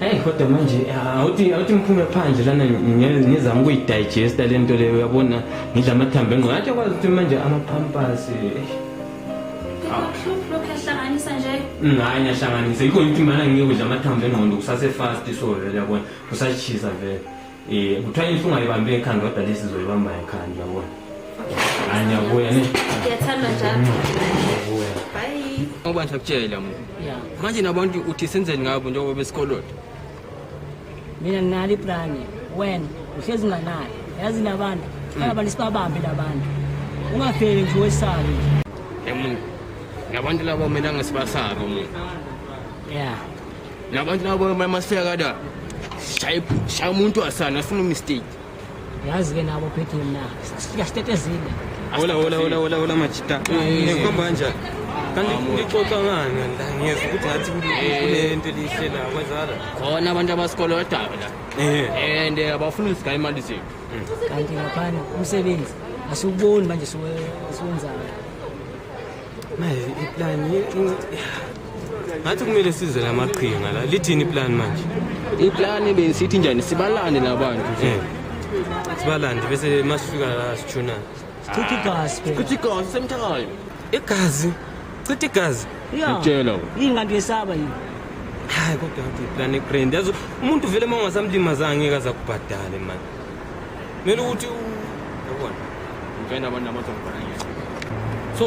Hey kodwa manje awuthi awuthi ngiphume phandle lana ngizama ukuyidigesta lento leyo uyabona ngidla amathambo engqondo athi kwazi ukuthi manje amapampers Lokuyahlanganisa nje? Mm, hayi ngiyahlanganisa. Yikho ngithi mana ngiyokudla amathambo engqondo kusase fast so vele yabona. Kusashisa vele. Eh kuthiwa inhlungu ayibambe ekhanda kodwa lesi zoyibamba ekhanda uyabona. Hayi ngiyabuya ne. Ngiyathanda njalo. Ngiyabuya. Bye. Ngoba ngiyakutshela mu. Yeah. Manje nabantu uthi senzeni ngabo njengoba besikolota. Mina nginalo iplan. When uhlezi nganayo. Yazi nabantu. Hmm. Abantu sibabambe labantu. Ungafeli nje wesabe. Emuntu. Ngabantu labo mina ngisibasabe umuntu. Yeah. nabantu labo masifika kada shaya umuntu wasana afuna umistake yazi ke nabo phethe mina sifika sitetezile hola hola hola hola hola majita ngikhomba kanjani kanti ngixoxa ngani la ngiyeza ukuthi ngathi kule nto elihle la kwenzala khona abantu abasikolo odaba la eh and eh, abafuna usigaye imali zethu kanti ngaphana umsebenzi asiwuboni manje siwenzayo manje iplan ngathi kumele size la maqhinga la lithini iplan manje iplani besithi njani sibalande labantu nje Eh. sibalande bese masifika la sithuna Chitha igazi phela. kuthi igazi same time igazi chitha igazi Yeah. ngitshela wena Yini kanti uyesaba yini? hayi kodwa ngathi iplan egrand yazi umuntu vele uma ungasamlimaza angeke aza kubhadale mani kumele ukuthi yabona ngifenda abantu abazongibona ngeke so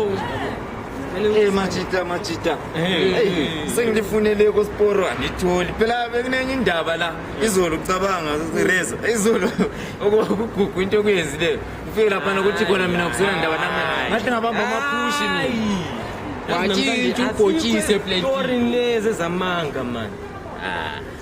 Eh majita majita. Hey sengilifunele ko sporo angitholi. Phela bekunenye indaba la. Izolo ucabanga reza. Izolo okugugu into okuyenzileyo. Ufike lapha nokuthi khona mina kusona ndaba nami. Ngathi ngabamba amaphushi mina. Wathi ubhotshise plenty. Story lezi zamanga man. Ah.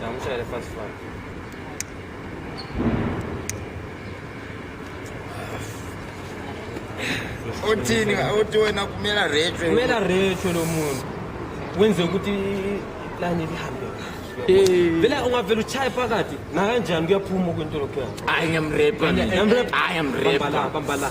Ngamshayele fast fast. Uthini uthi wena kumela retro. Kumela retro lo muntu. Wenze ukuthi plan lihambe kahle. Vele ungavela uchaye phakathi nakanjani kuyaphuma kwinto lokho. I am rape. I am rape. Bambala bambala.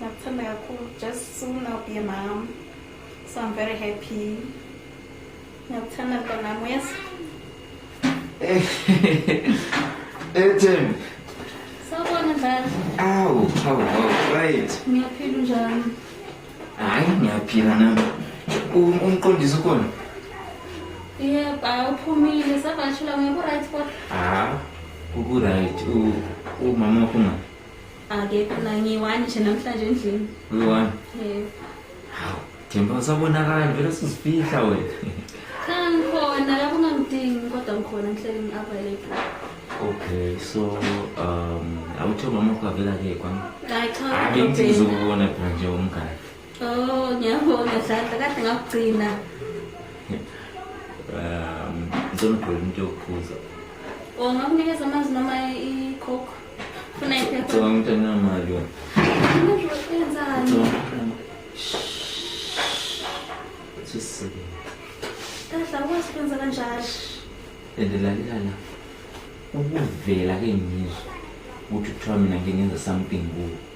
Nakuthanda kakhulu just soon I'll be a mom. So I'm very happy. Nakuthanda mntanami yes. Ethem. Sawubona njalo. Awu, awu, awu, right. Ngiyaphila njalo. Hayi, ngiyaphila nami. Umqondisi ukhona? Yebo, awuphumile savashela ngeke right kodwa. Ah, uku right. Umama ukhona. akekho na ngiyi-one nje namhlanje endlini uyi-one yebo hawu themba usabonakala vele sizifihla wena cha ngikhona lapho ungangidingi kodwa ngikhona ngihleli ngi-available okay so um awuthe umama wakho avela ke kwami hayi cha hayi kodwa ngithi ubheka. ngizokubona phela nje umngane oh ngiyabonga dladla kade ngakugcina um ngizomgqola umuntu yokubuza o ngakunikeza amanzi noma i-coke Endelalelana ukuvela ke ngizwa ukuthi kuthiwa mina ngingenza something kuwe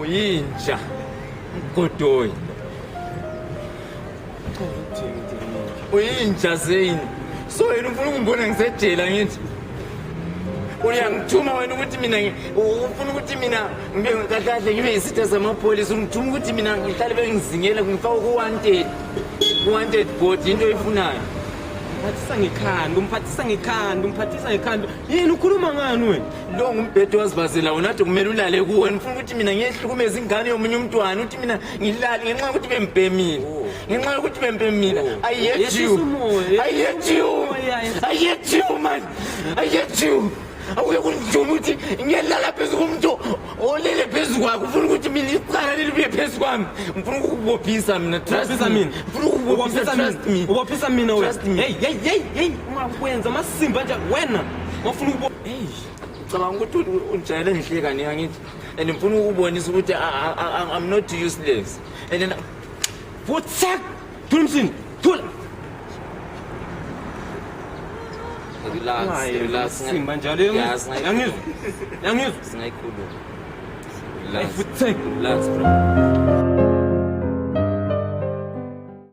uyinja mgodoyi uyinja zeyini so yena ufuna ukungibona ngisejela ngithi uyangithuma wena ukuthi mina ufuna ukuthi mina ngibe kahle ngibe yisitha samapholisa ungithuma ukuthi mina ngihlale bengizingela ngifake ku-wanted ku-wanted board yinto oyifunayo umphathisa ngekhanda umphathisa ngekhanda umphathisa ngekhanda yini ukhuluma ngani wena lo ngumbhedo wazibazela wona ade kumele ulale kuwo nifuna ukuthi mina ngiyehlukumeza ingane yomunye umntwana ukuthi mina ngilale ngenxa yokuthi bembhemile ngenxa yokuthi bembhemile i hate you i hate you i hate you man i hate you awuye kundijuma ukuthi ngiyelala phezu komuntu olele phezu kwakhe ufuna ukuthi mina iqala lelibuye phezu kwami ngifuna ukukubophisa mina trust me ngifuna ukukubophisa trust me ubophisa mina wena hey hey hey hey ungakwenza amasimba nje wena ngofuna cabanga ukuthi ujayele ngihleka ni angithi and ngifuna ukubonisa ukuthi i'm not useless and then futhak thulumsini thula simba njalo yangizwa yangizwa singayikhuluma futhak relax bro